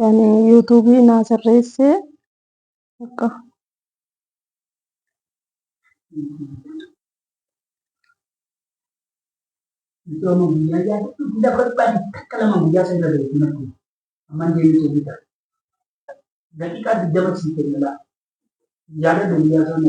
yani yuutuubii naa sirreesse akka Misooma guyyaa yaa hedduu guyyaa barbaade takka lama guyyaa sana irra hin argu. Amma deemee ta'uu ta'a. Daqiiqaa digdama sii kenna laa. Yaada guyyaa sana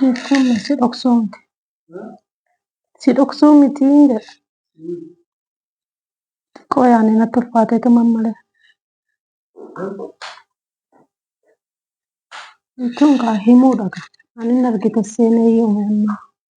Jechuun si dhoksuu miti. Si dhoksuu miti jedha. Xiqqoo yaadni natti ulfaatee tuman malee. Jechuun kaa himuudha kaa. Ani hin argite seenee yoomuu ammaa.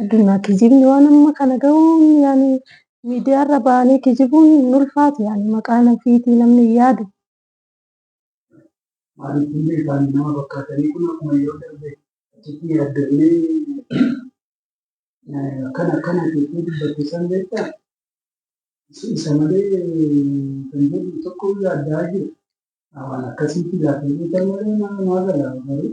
Addunyaa kijibni waan amma kana gahuun yaani miidiyaarra ba'anii kijibuun hin ulfaatu yaani maqaan ofiitii namni hin yaadu. Maaliif hundi isaanii nama fakkaatanii kun akkuma yeroo darbe achitti yaaddofnee akkana akkana jettee dubbatte san beektaa? Isa malee kan jedhu tokko yaaddaa jiru. Waan akkasiitti laafee beekan malee nama maa galaa garuu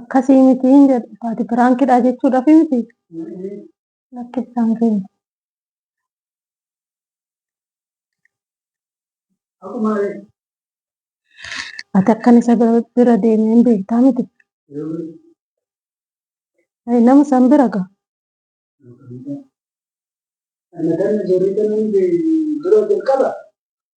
Akkasii miti hin jedhu. Ati piraankidha jechuudhaaf miti. Lakkisaan keenya. Ati akkan isa bira deemee hin beektaa miti. Ayi nama san bira ga'a. Ana kana jirri kana dura jalqaba.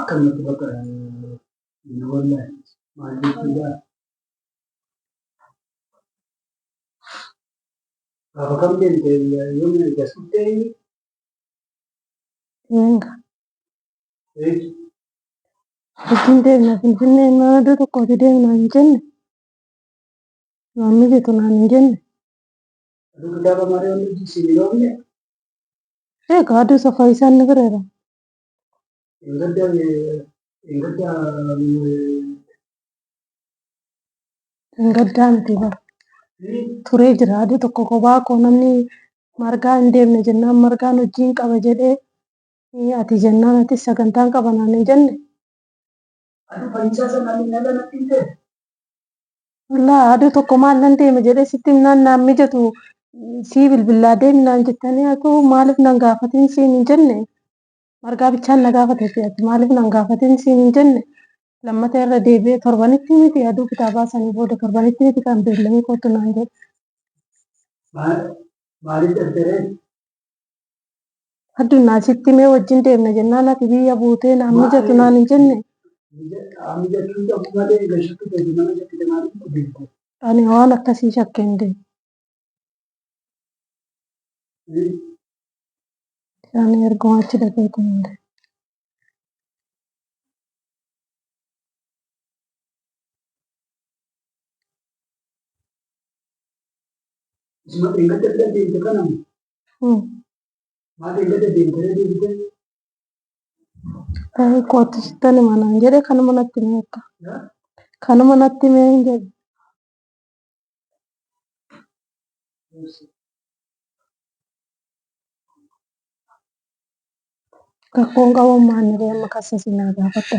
akkanumatti bakka na wallaahe maal jechuudha? Gaafa kam deemte yoo na eegas dhufte eenyu? Hanga Eetu ittiin deemna Finfinnee mana iddoo tokkooti deemna hin jenne. Waan mijatu naan hin jenne. aduu kitaaba malee wanni hojii siin hin oofne Ee gaaduu safaa isaan ni bireera. Engadda engadda Hin gaddaa miti bara. Turee jira aduu tokko kophaa koo namni margaa hin deemne jennaan margaan hojii hin qaba jedhee eh, ati jennaan ati sagantaan qaba naan hin jenne. Adu fayyisaa san ani nala natti hin ta'e. Wallah aduu tokko maal nan deema jedhee sitti himnaan naan mijatu sii bilbillaa deemi naan jettanii atuu maaliif nan gaafatiin siin hin jenne margaa bichaan na gaafate fi ati maaliif nan gaafatiin siin hin jenne lammata irra deebi'ee torbanitti miti aduu kitaabaa sanii booda torbanitti miti kan beellamii kootu naan jedhe. Maaliif ergeree? Addunyaa sitti mee wajjin deemna jennaan ati biyya buutee naan mijatu naan hin jenne. Ani waan akkasii shakkee hin deemu. Ani erguma achi dhaqeetu hin deemu. Ee, kootu sittan hima naan jedhe kanuma natti hime akka. Kanuma natti hime hin jedhe. Rakkoon qabu maanni bee amma kassa sinaa gaafadha.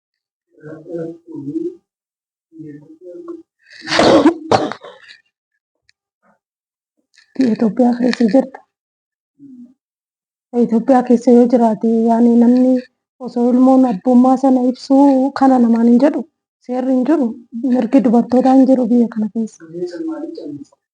Itoophiyaa keessa jirta. Itoophiyaa keessa yoo jiraate yaani namni osoo ilmoon abbummaa sana ibsuu kana namaan hin jedhu seerri hin jiru mirgi dubartootaa hin jiru biyya kana keessa.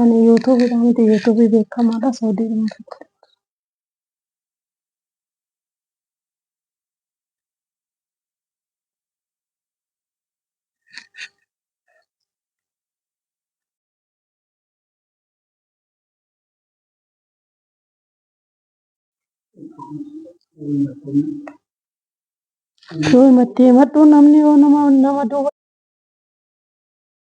Ani YouTube dhaan miti YouTube beekamaadha Saudi dhuma tokko. Yoo matti madhu namni yoo nama nama duuba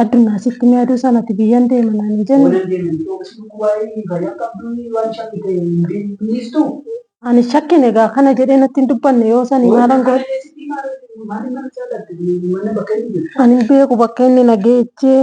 Addunyaa sitti ni aduu sanatti biyyan deema naan hin jenne. Oolan deeman iddoo gosa waa'ee fayyaa qabduu waan shakkii ta'e hin beektu. Ani shakkin egaa kana jedhee natti hin dubbanne yoo sanii maalan godhe. Maaliin mana jaalatte mana bakka inni jiru. Ani hin beeku bakka inni na geechee.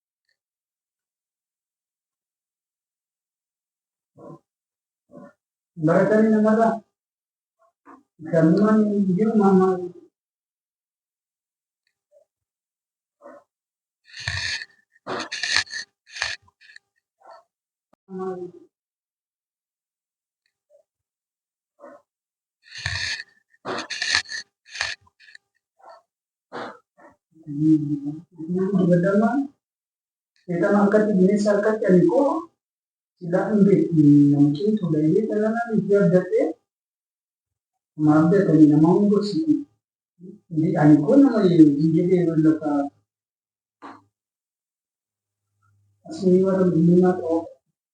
Barattoonni namarra galmaan jiru maamaa Seetaan akkatti bineensa harkatti ani koo silaa hin beektu namichaan tuulayee dhalanaan itti abdadhee ma abdatanii nama hin gorsitu. Ani koo nama hin jedhee lafa asii warra biyyummaa ta'uu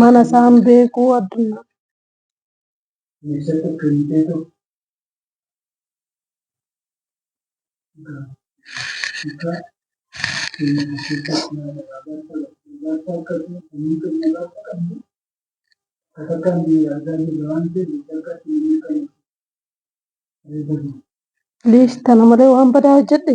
Mana isaan beekuu addunyaa. Please tana malee waan badaa hojjedhe.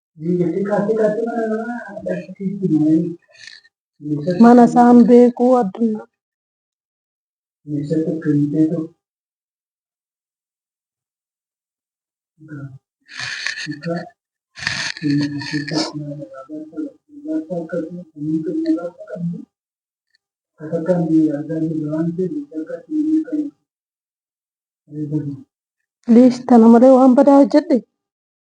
Mana isaan beekuu addunyaa. Please tana malee waan badaa hojjedhe.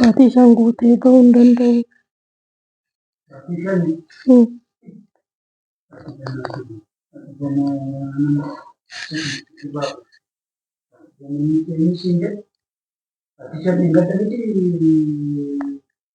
Maatii isaan guutee bahuu hin danda'u. Hmm.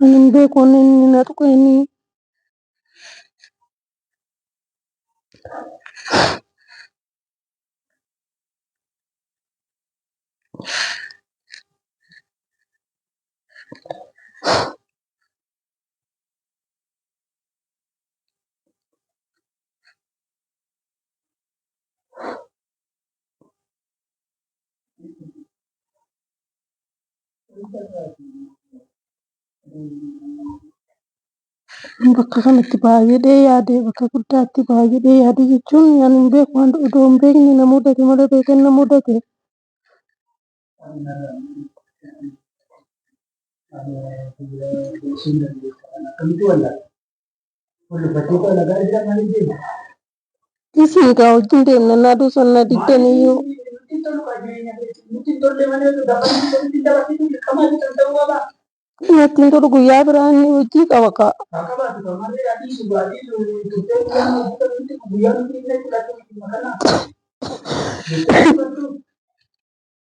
Hin beeku inni inni na tuqe inni. bakka kanatti baay'ee yaadee bakka guddaatti baay'ee yaadee jechuun waan hin beeku waan odoo hin beekne na mudate malee beekee na mudate. Isin gaa wajjin deemna naa duusan na diddan iyyuu. Nattiin tolu guyyaa biraa inni hojii qaba kaa.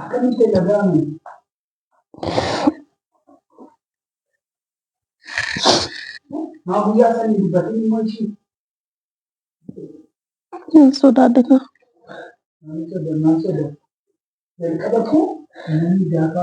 Akkamitti dhaga'ame? Maa guyyaa sanii dubbatiin immoo ishii Hin sodaadhe kaa. maal jedha maal jedha jalqaba koo namni gaafa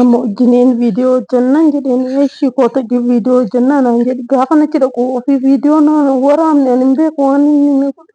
Amma hojjineen viidiyoo hojjannaan jedheen eeshi koota viidiyoo hojjannaa naan jedhe gaafa nachi dhaqu ofii viidiyoo na waraabne ani hin beeku waan inni na godhe.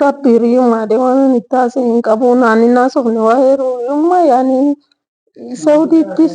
Rabbi hiriyummaa de waan itti haasa'e hin qabu naan hin haasofne waa'ee hiriyummaa yaani Saudiittis